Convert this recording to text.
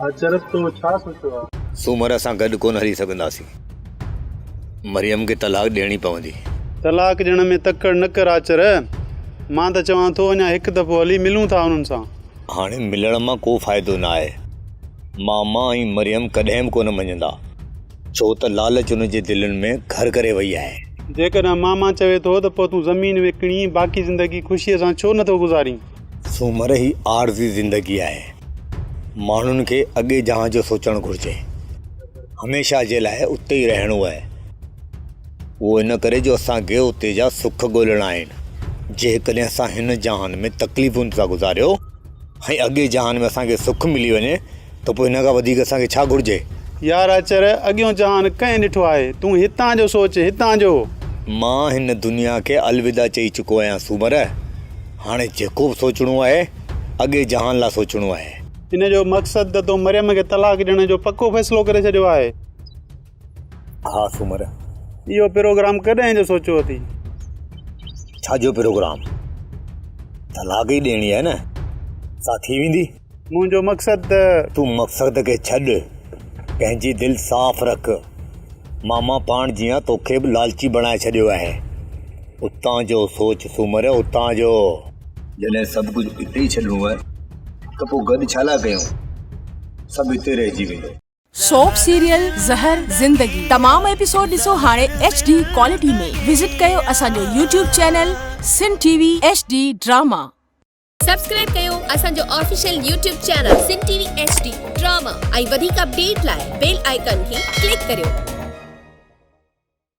اچرج تو ڇا سوچيو آ؟ سومر اسان گڏ ڪونه هلي سگهنداسين. مريم کي طلاق ڏيڻي پوندي. طلاق ڏيڻ ۾ تڪڙ نه ڪر آچر. مان ته چوان ٿو اڃا هڪ دفعو هلي ملون ٿا انهن سان. هاڻي ملڻ مان ڪو فائدو نه آهي. ماما ۽ مريم ڪڏهن به ڪونه مڃندا. ڇو ته لالچ ان جي دلين ۾ گهر ڪري وئي آهي. جيڪڏهن ماما چوي ٿو ته پوء تون زمين وڪڻي باقي زندگي خوشيء سان ڇو نٿو گذارين؟ سومر هي عارضي زندگي آهي. ماڻهن کي اڳي جهان جو سوچڻ گهرجي. هميشه جي لاء اتي ئي رهڻو آهي. اهو ان ڪري جو اسان کي اتي جا سک ڳولڻا آهن. جيڪڏهن اسان هن جهان ۾ تڪليفن سان گذاريو. ۽ اڳئين جهان ۾ اسان کي سک ملي وڃي ته پوء ان کان وڌيڪ اسان کي ڇا گهرجي؟ يار اچر، اڳيون جهان ڪنهن ڏٺو آهي؟ تون هتان جو سوچ، هتان جو! مان هن دنيا کي الوداع چئي چڪو آهيان سومر، هاڻي جيڪو به سوچڻو آهي، اڳئين جهان لاء سوچڻو آهي. ان جو مقصد ته تو مريم کي طلاق ڏيڻ جو پڪو فيصلو ڪري ڇڏيو آهي. ها سومر! اهو پروگرام ڪڏهن جو سوچيو اٿئي؟ ڇا جو پروگرام؟ طلاق ئي ڏيڻي آهي نه، سا ٿي ويندي. منهنجو مقصد ته. تون مقصد کي ڇڏ، پنهنجي دل صاف رک. ماما پاڻ جيان توکي به لالچي بڻائي ڇڏيو آهي. اتان جو سوچ سومر، اتان جو. جڏهن سڀ ڪجهه اتي ئي ڇڏڻو آهي ته پوء گڏ ڇا لاء ڪيون؟ سڀ اتي رهجي ويندو. سوپ سيريل زهر زندگي تمام ايپيسوڊ ڏسو هاڻي ايڇ ڊي ڪوالٽي ۾ وزٽ ڪيو اسان جو YouTube channel Sun T V H D drama. Subscribe ڪيو اسان جو official YouTube channel Sun T V H D drama ۽ وڌيڪ اپڊيٽ لاء بيل آئيڪن کي ڪلڪ ڪريو.